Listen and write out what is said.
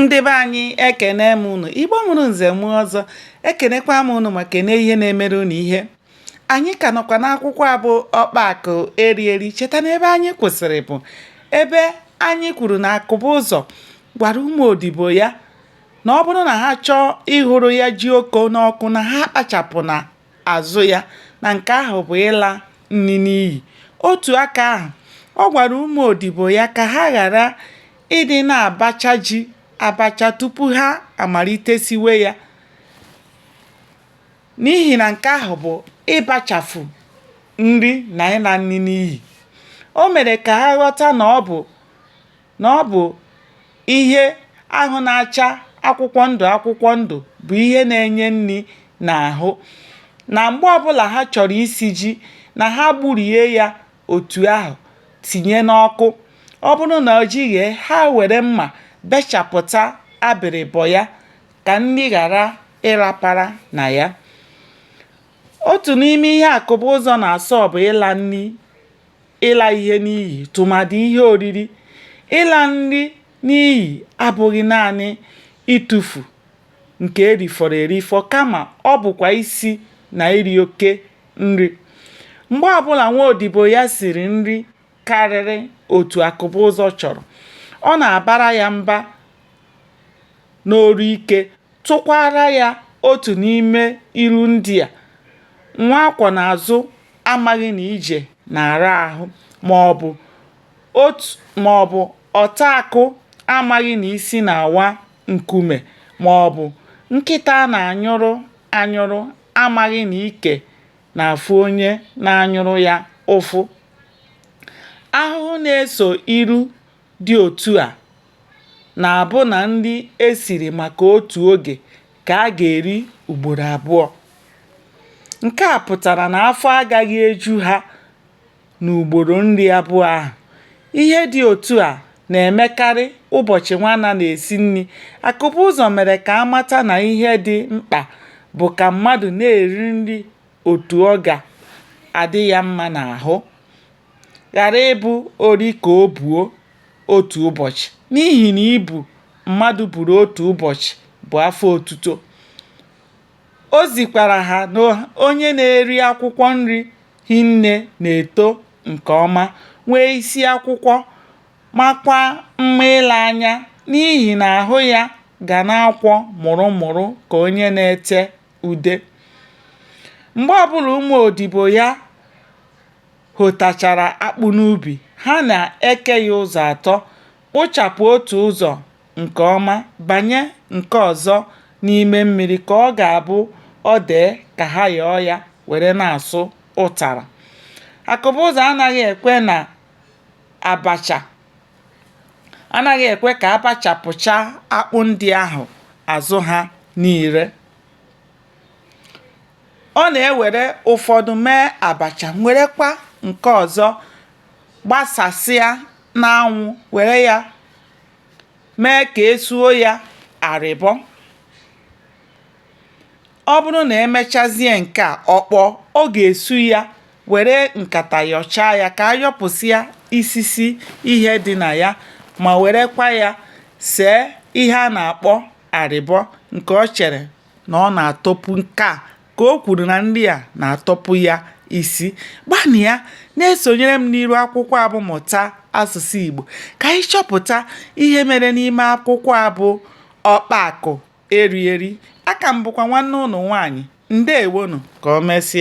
ndị be anyị ekene m unu igbo mụrụ nze mụọ ọzọ ekenekwa m unu ma kene ihe na-emere unu ihe anyị ka nọkwa n'akwụkwọ a bụ ọkpa akụ eri eri cheta n'ebe anyị kwụsịrị bụ ebe anyị kwuru na akụbụzọ gwara ụmụ odibo ya na ọ bụrụ na ha chọọ ịhụrụ ya ji oko n'ọkụ na ha akpachapụna azụ ya na nke ahụ bụ ịla nri n'iyi. Otu aka ahụ, ọ gwara ụmụ odibo ya ka ha ghara ịdị na-abacha ji abacha tupu ha amalite siwe ya n'ihi na nke ahụ bụ ịbachafu nri na ịla nri n'iyi. O mere ka ha ghọta na ọ bụ na ọ bụ ihe ahụ na-acha akwụkwọ ndụ akwụkwọ ndụ bụ ihe na-enye nri n'ahụ na mgbe ọbụla ha chọrọ isi ji na ha gburie ya otu ahụ tinye n'ọkụ ọ bụrụ na ji ghee ha were mma bechapụta abịrịbọ ya ka nri ghara ịrapara na ya otu n'ime ihe akụbụzọ na-asọ bụ ịla nri ịla ihe n'iyi tụmadị ihe oriri ịla nri n'iyi abụghị naanị ịtụfu nke e rifọrọ erifọ kama ọ bụkwa isi na iri oke nri mgbe ọbụla nwa odibo ya siri nri karịrị otu akụbụzọ chọrọ ọ na-abara ya mba n'olu ike tụkwaara ya otu n'ime ilu ndị a, Nwa a kwọ n'azụ amaghị na ije na-ara ahụ ma ọ bụ ọta akụ amaghị na isi na-awa nkume ma ọ bụ nkịta a na-anyụrụ anyụrụ amaghị na ike na-afụ onye na-anyụrụ ya ụfụ. Ahụhụ na-eso ilu dị otu a na-abụ na nri e siri maka otu oge ka a ga-eri ugboro abụọ. Nke a pụtara na afọ agaghị eju ha n'ugboro nri abụọ ahụ. Ihe dị otu a na-emekarị ụbọchị Nwanna na-esi nri. Akụbụzọ mere ka a mata na ihe dị mkpa bụ ka mmadụ na-eri nri otu ọ ga-adị ya mma n'ahụ. ghara ịbụ ori ka o buo otu ụbọchị n'ihi na ibu mmadụ buru otu ụbọchị bụ afọ otuto. O zikwara ha na onye na-eri akwụkwọ nri hinne na-eto nke ọma, nwee isi akwụkwọ, makwa mma ile anya n'ihi na ahụ ya ga na-akwọ mụrụ mụrụ ka onye na-ete ude. Mgbe ọbụla ụmụ odibo ya hotachara akpụ n'ubi, ha na-eke ya ụzọ atọ, kpụchapụ otu ụzọ nke ọma, banye nke ọzọ n'ime mmiri ka ọ ga-abụ ọ dee ka ha yọọ ya were na-asụ ụtara. Akụbụzọ anaghị ekwe na abacha anaghị ekwe ka a bachapụcha akpụ ndị ahụ azụ ha niile ọ na-ewere ụfọdụ mee abacha werekwa nke ọzọ gbasasịa n'anwụ were ya mee ka e suo ya arịbọ ọ bụrụ na e mechazie nke a ọ kpọọ ọ ga-esu ya were nkata yọchaa ya ka a yọpụsịa isisi ihe dị na ya ma werekwa ya see ihe a na-akpọ arịbọ nke ọ chere na ọ na-atọpụ nke a ka o kwuru na nri a na-atọpụ ya isi gbanịa na-esonyere m n'iru akwụkwọ a bụ Mụta Asụsụ Igbo ka anyị chọpụta ihe mere n'ime akwụkwọ a bụ Ọkpa Akụ Eri Eri. Aka m bụkwa nwanne ụnụ nwaanyị. Ndewonụ. Ka o mesịa.